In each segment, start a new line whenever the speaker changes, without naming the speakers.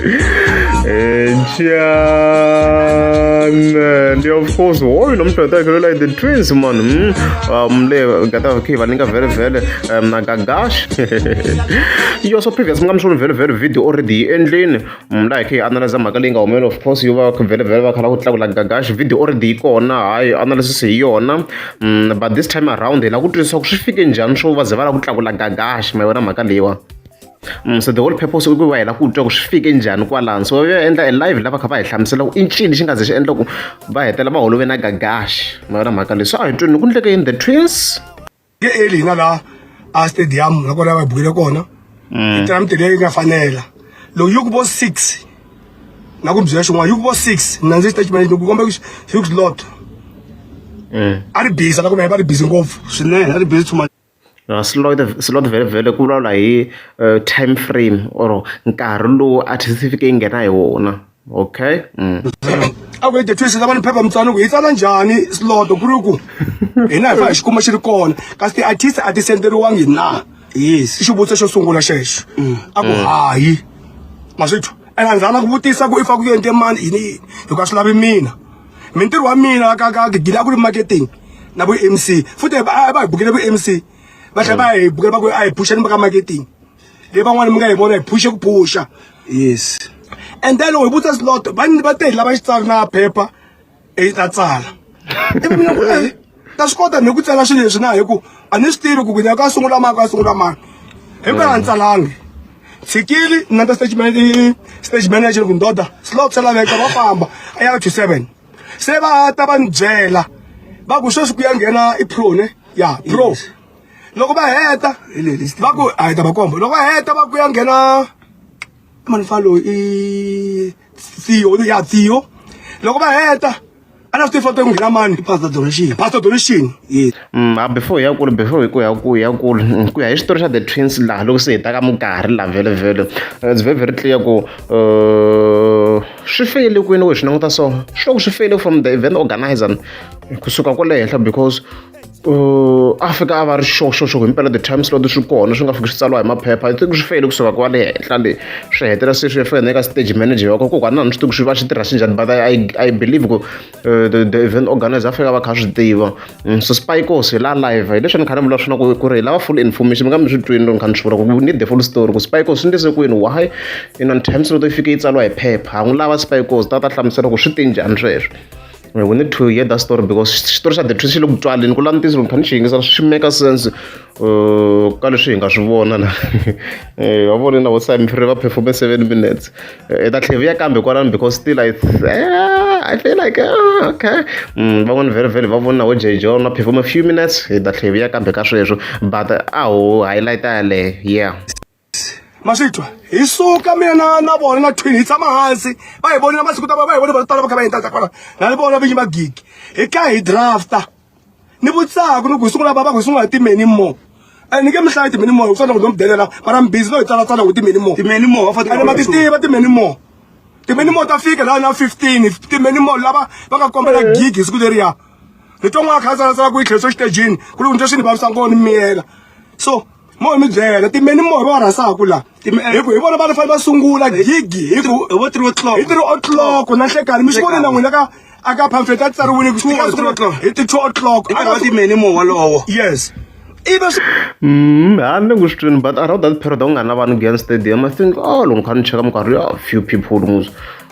and yeah, of course hoyo nomdoda wakhe lolai the twins man mm. um le gata wakhe vaninga vele vele um nagagash yo so previous mi nga mi swona vele vele video already yi endleni mla hi khe hi analyza mhaka leyi nga humelela of course yo va vele vele va khala ku tlakula gagash video already yi kona hayi analysis hi yona mm, but this time around hi la ku twisisa ku swi fike njhani swo va ze va la ku tlakula gagash ma yona mhaka leyiwa Mm, so the whole purpose i ku va hi lava ku twa ku swi fike njhani kwalano so yo endla e live lava kha va hi hlamusela ku i ncini xi nga ze xi endla ku va hetela va holove na gagaxi ma yona mhaka leyi so a hi twini ku ndleke yini the twins ke eli hi nga laha a stadium la kona va bukile kona mm. yi tira miti leyi nga fanela loko yi ku vo six na ku byela xin'wana yi ku vo six mina ndzi xitatimende loko kombe hugslot mm. a ri biza la ku va va ri bizi ngopfu swinene a ri bizi too much slot vhele ku vulavula hi time frame or nkarhi lowu artist yi fike yi nghena hi wona okay a ku yi defice lava ni phepha mutswani ku yi tsala njhani slot ku ri ku hina hi fa hi xi kuma xi ri kona kasi ti-artist a ti senderiwangi na yes i xivutiso xo sungula xexo mm. a ku mm. hayi maswithu and a ni zanga ku vutisa ku i fa ku yente mani yini yini hikuva swi lavi mina mintirho wa mina ka ka gidila ku ri marketing na vo mc futhi va hi bukele vo mc va tlhela va hi bukela va ku a hi phuxa ni va ka marketing leyi van'wana mi nga hi vona hi phuxe ku phuxa yes and then loko hi vutisa slot va va te hi lava xitsari na phepha i ta tsala ivi mina ku ta swi kota ni ku tsala swilo leswi na hi ku a ni swi tivi ku kunyaka a sungula mani a sungula mani hi ku a ni tsalangi tshikili na ta stage manager stage manager ku ndoda slow tsala veka va famba a ya to 7 se va ta va ni byela va ku sweswi ku ya nghena i pro ne ya pro loko va heta va ku a hi ta va kombo loko va heta va ku ya nghena mani fa loyi i CEO ya CEO loko va heta a na swi tifoto yi nghena mani pastor donation pastor donation yes mm, ah, before ya kulu before hi ku ya ku ya kulu mm, ku ya hi xitori xa the twins laha loko se hi taka mukarhi laha vhele vhele eh, it's very very clear ku eh, swi feyile kwini we swi languta so swi loko swi feyile from the event organizer kusuka kwale henhla because a fika a va ri xoxoxoko himpela the time slot swi kona swi nga fiki swi tsariwa hi maphepha i think swi feyile kusuka ku va le henhla le swi hetela se swi ya fika eka stage manager wa ko kokwana a ni swi tivi swi va swi tirha swi njhani but i i believe ku eh, the, the event organizer a fika va kha swi tiva mm, so spikos hi la live hi leswi ni kha ni vula swona ku ku ri hi lava full information mi nga mi swi twini loko ni kha ni swi vula ku need the full story ku spikos swi ndise kwini why in on time slot yi fike yi tsariwa hi phepha a n'wi lava spikos ta ta hlamusela ku swi te njhani sweswo we need to hear that story because xitori xa the truth xi le ku tswaleni ku la ntiyiso loko phani xi yingisa swi make sense uh, ka leswi hi nga swi vona la eh, wa vona na vo sime free va performe seven minutes eh, i ta tlheviya kambe kwalano because still i eh, i feel like ah, okay mm, van'wana very very va vona na vo j john va performe few minutes hi ta tlheviya kambe ka sweswo but a ho highlight yaleyo yeah ma swi twa hi suka mina na na vona na twin hi tshama hansi va hi vonile masiku ta va va hi vone va tala va kha va yini tata kwala na ni vona vinyi va gigi hi ka hi drafta ni vutsaku ni ku hi sungula vava ku hi sungula hi timeni mo and ni nge mi hlayi timeni mo hi kusana ku no mi delela mara mi busy no hi tsalatsala ku timeni mo timeni mo va fanele ma ti tiva timeni mo timeni mo ta fika laha na 15 timeni mo lava va nga kombela eh. gigi hi siku leriya ni twa n'wana kha a tsalatsala ku yi tlheriso xitejini ku ri ku ni twa swi ni vavisa ngoni miyela so mo mi byela timeni mo va rhasaku la hi ku hi vona va fanele va sungula gigi hi ku hi vo three o'clock hi three o'clock na nhlekani mi swi vone na n'wina ka aka pamphlet a tsariwile ku fika three o'clock hi ti two o'clock a va timeni mo walowo yes ibe swi mm ha ni ku swi but around that period a ku nga na vanhu gen stadium i think oh loko kha ni cheka minkarhi ya few people muzi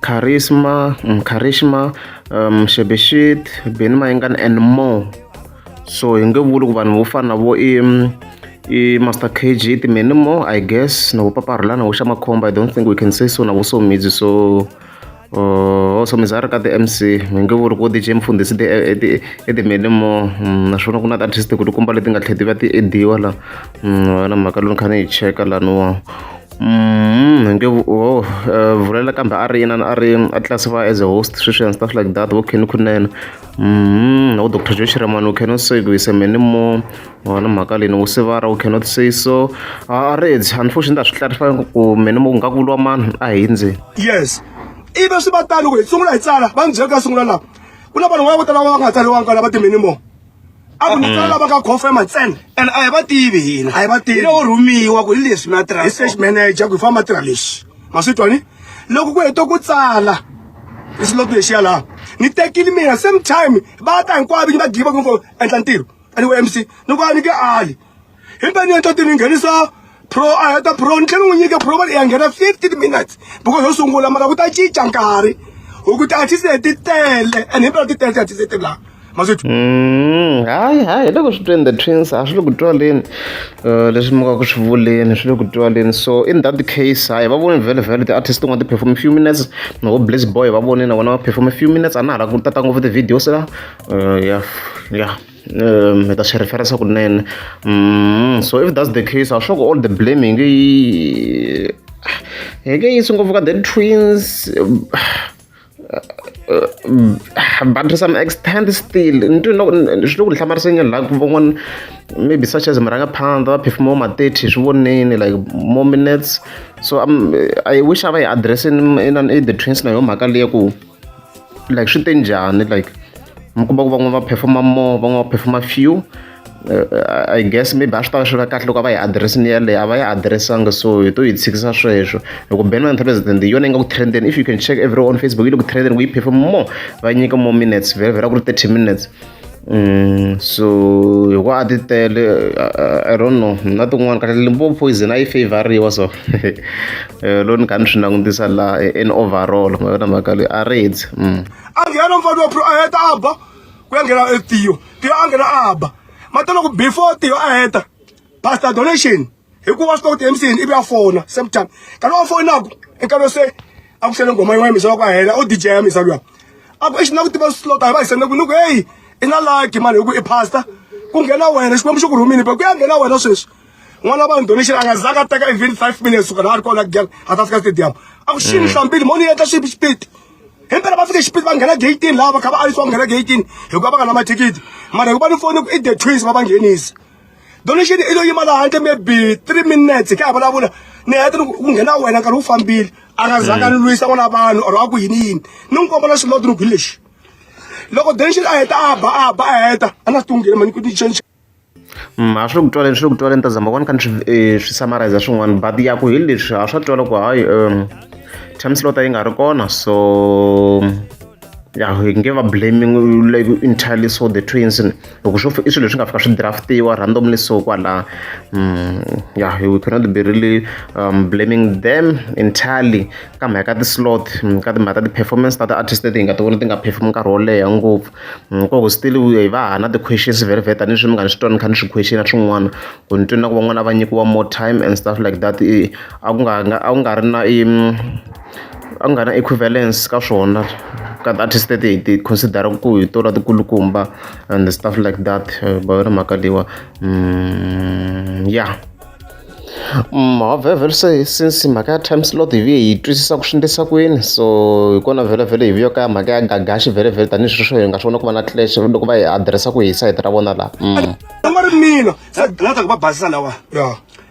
Charisma, um, Charisma, um, Shebeshit, Benny Mayengani and more. So hi nge vuli ku vanhu vo fana na vo i i Master KG timene more I guess na vo Paparhula na vo Xamakhomba I don't think we can say so na vo Somizi so uh, oh, Somizi a ri ka ti-MC hi nge vuli ku DJ Mfundhisi i timene more mm, naswona ku na ti-artist ku tikomba leti nga tlhela ti va ti ediwa la mm, na mhaka lowu ni kha ni yi cheka laniwa nge wo vulela kambe a ri inana a ri a classify as a host sweswi and stuff like that wo kheni kunene wo doctor joe shiramani u cannot say ku yise many more wona mhaka leyi ni ku sivara u cannot say so a ri edzi unfortunately ta swi clarify ku many more ku nga ku lwa mani a hi ndzeni yes ibe swi va tani ku hi sungula hi tsala va ni byela ku ya sungula laha ku na vanhu va vo tala va nga tsaliwanga lava ti-many more a ku ni tsala lava ka confirm ntsena and a hi va tivi hina a hi va tivi lowo rhumiwa ku hi leswi mi ya tirha research manager ku hi famba tirha lexi ma swi twani loko ku hete ku tsala hi xiloko lexiya laha ni tekile mina same time va ta hinkwavo ni va giva ku endla ntirho aniwe mc ni ku a ni ke ali himpani ya ntate ni nghenisa pro a heta pro ni tlhela n'wi nyika pro va ya nghena fifteen minutes because yo sungula mara ku ta cinca nkarhi hi ku tiartist leti tele and himpela ti tele tiartist leti laha mazwithu mm, hayi hayi loko swi tweni the twins a swi le ku twaleni uh, leswi mi ka ku swi vuleni swi le ku twaleni so in that case hayi va voni vhele vhele ti-artist tin'wana ti perform few minutes novo blaze boy va vonile vona va perform few minutes a na ha la ku tata ngopfu ti-videos la uh, ya ya mi ta swi referensa kunene mm, so if that's the case a sure all the blaming yi hi nge yisi ngopfu ka the twins but to some extent still nto swi le ku hlamarisenge la ku van'wana maybe such as murangaphandha va phefuma ma 30 swi voneni like more minutes so um, i wish a va yi address in, in, in the twins na yo mhaka leya ku like swi te njhani like mi kuma ku van'wana va performa more van'wana va performa few uh, i guess maybe a swi tava swi va kahle loko a va yi adiressini yeleyo a va yi adiressanga so hi to yi tshikisa sweswo hi ku ben president yona yi nga ku trendeni if you can check every on facebook yi le ku trendeni ku yi perform more va nyika more minutes vhele vhela ku ri thirty minutes Mm, so hikuva a ti tele i don't know na tin'wana kahle limpopo poison a yi favoriwa so eh, lo ni kha ni swi langutisa laha eh, in overall ma yona mhaka leyi a reds mm. a nghena mfana wa pro a heta a ba ku ya nghena etiyo tiyo a nghena a ba matolo ku before tiyo a heta pastor donation hikuva swi tiva kuti emsini ivi a fona same time kana wa fonaku enkarhi se a ku xele ngoma yin'wana misa wa ku a hela o dj ya misa luya a ku exi na ku tiva slota hi va hi sende ku ni ku heyi i na laki mani hi ku i pasta ku nghena wena xikwembu xi ku rhumini pe ku ya nghena wena sweswi n'wana vanhu donation a nga zanga a teka even five minutes suka laha a ri kona gel a ta fika stadium a ku xini hlambili mo ni endla swipi xipiti hi mpela va fike xipiti va nghena gatini laha va kha va alisiwa nghena gatini hikuva va nga na mathikithi mara hikuva ni foni ku i the twins va va nghenisa donation i lo yima laha handle maybe three minutes ka ha vulavula ni heta ku nghena wena nkarhi wu fambile a nga zanga ni lwisa n'wana vanhu or a ku yini yini ni n'wi kombela xilodi ni ku hi lexi loko donation a heta a ba a ba a heta a na swi tunghile mani ku ni change ma swi ku twaleni swi ku twaleni ta zama vona kani swi eh, swi summarize swin'wana but ya ku hi leswi a swa twala ku hayi um time slot yi nga ri kona so ya hi nge va blaming like entirely so the twins loko swo i swilo leswi nga fika swi draftiwa randomly so kwala mm, ya we cannot be really um, blaming them entirely ka mhaka ka ti-slot mm, ka timhaka ta ti-performance ta ti-artist leti hi nga ti vona ti nga perform nkarhi wo leha ngopfu mm, koko still hi va hana ti-questions very very tanihi swi mi nga ni swi twani kha ni swi question a swin'wana ku ni twini na ku van'wana va nyikiwa more time and stuff like that a ku nga a ku nga ri na a nga na equivalence ka swona ka ti-artist leti hi ti consider-aka ku hi tona ti kulukumba and stuff like that va yona mhaka leyiwa ya mavhevhela se since mhaka ya time slot hi vuye hi twisisa ku swi endlisa ku yini so hi kona vhelavhele hi vuye ka mhaka ya gagaxi vhelavhele tanihileswi sweswo hi nga swi vona ku va na clash loko va hi adirese ku hi sayiti ra vona laha va ri mina se gina ta ku va basisa lawa ya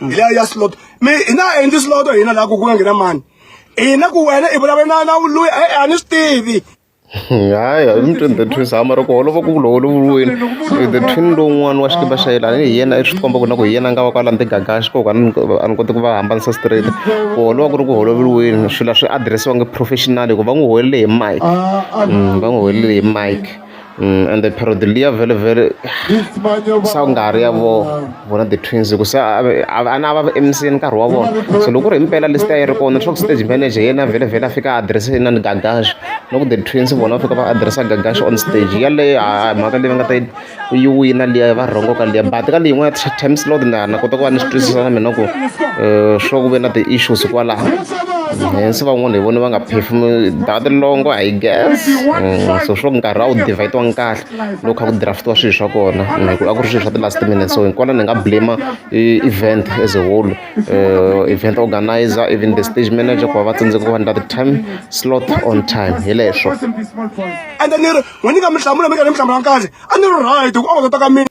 mm. hi leya ya slot mi hi na a endli slot hina laha ku ku nga nghena mani hina ku wena i vulavula na na loyi a ni swi tivi hayi mutweni the twins hama ri ku holova ku vula holoviweni the twin lowun'wana wa xikiba xa yelani hi yena i swi komba ku na ku hi yena a nga va kwala ntigagaxi koku a ni koti ku va hambanisa straight ku holova ku ri ku holoveriweni swilo swi adiresiwangi professional hikuva va n'wi holele hi mike va n'wi holele hi mike ende period liya vhele vhele sa ku nga ha ri ya vo vona the twins ku se a a na va emiseni nkarhi wa vona so loko ku ri himpela lista yi ri kona swa ku stage manager yena vhele vhele a fika a adirese yena ni gagaxo loko the twins vona va fika va adiresa gagaxo on stage yaleyo a mhaka leyi va nga ta yi yi wina liya va rhongo ka liya but ka leyi yin'wana time slot na na kota ku va ni swi twisisa na mina ku swa ku ve na ti-issues kwalaho se van'wana hi vona va nga phefumuli that long I guess mm, so swo nkarhi a wu divhayitiwanga kahle loko kha ku draftiwa swilo swa kona mm, hi ku a ku ri swilo swa ti-last minutes so hinkona ni nga blame event as a whole uh, event organizer even the stage manager ku va va tsandzeka ku va ndla ti-time slot on time hi leswo ende ni ri n'we ni nga mi hlamula mi ka ni mi hlamula nkarhi a ni ri right hi ku a wu ta ka mina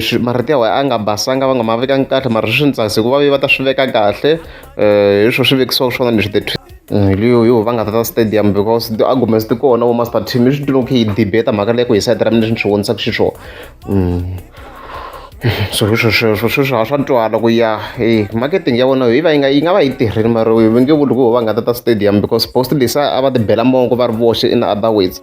swi marito ya wena a nga basanga va nga ma vekanga kahle mara swi ni tsakisa hikuva va ta swi veka kahle hi swo swi vekisiwa swona leswi the leyo yo va nga tata stadium because ti-arguments ti kona vo master team i swi tiva ku yi debate mhaka leyi ku hi sayiti ra mina leswi ni swi vonisaka xiswona so hi swo sweswo sweswo a swa twala ku ya e marketing ya vona yi va yi nga yi nga va yi tirhile mara va nge vuli ku va nga tata stadium because post lexi a va ti bela mongo va ri voxe in other words.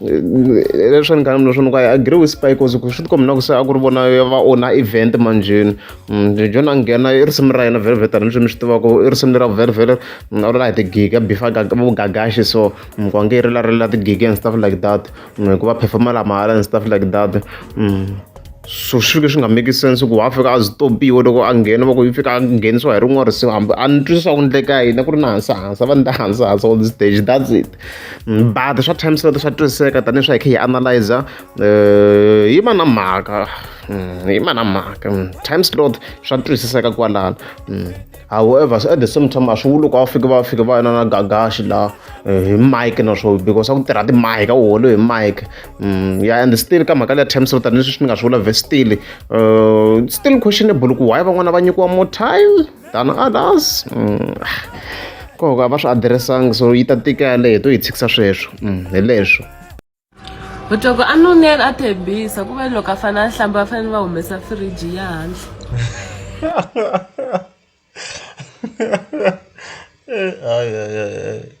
leswi ni kanini leswi ni ku i agree with spy cause ku swi tikombi na ku se a ku ri vona va ona event manjheni mm, john a nghena i risimu ra yena velvet ni swi mi swi tivaka i risimu lera velvet mm, a ri la hi tigiga bifa vugagaxi so mm, ku ange i ri la ri la tigiga and stuff like that hikuva performa la mahala and stuff like that so swi fike swi nga make sense ku wa fika a zitopiwe loko a nghena va ku yi fika a nghenisiwa hi rin'wana risimu hambi a ni twisisa ku ndleka yini ku ri na hansi hansi va ni ta hansi hansi on the stage that's it mm, but swa times leto swa twisiseka tanihi swa hi khe hi analyzer eh, yi ma na mhaka mm, yi ma na mhaka mm, times lot swa twisiseka kwalano however so at the same time a swi vuli loko va fike va fike va yona na gagaxi la eh, hi mike na swo because a ku tirha timike a wu holo hi mike mm, ya and still ka mhaka leya terms rota ni swi ni nga swi vula ve still eh, still questionable ku why van'wana va nyikiwa more time than others mm, ah, koka a va swi addressanga so yi ta tika yaleyo hi to yi tshikisa sweswo mm, hi leswo Loko a nunela a tshembisa ku ve loko a fane a hlamba va fanele va humesa fridge ya handle. Hayi hayi hayi.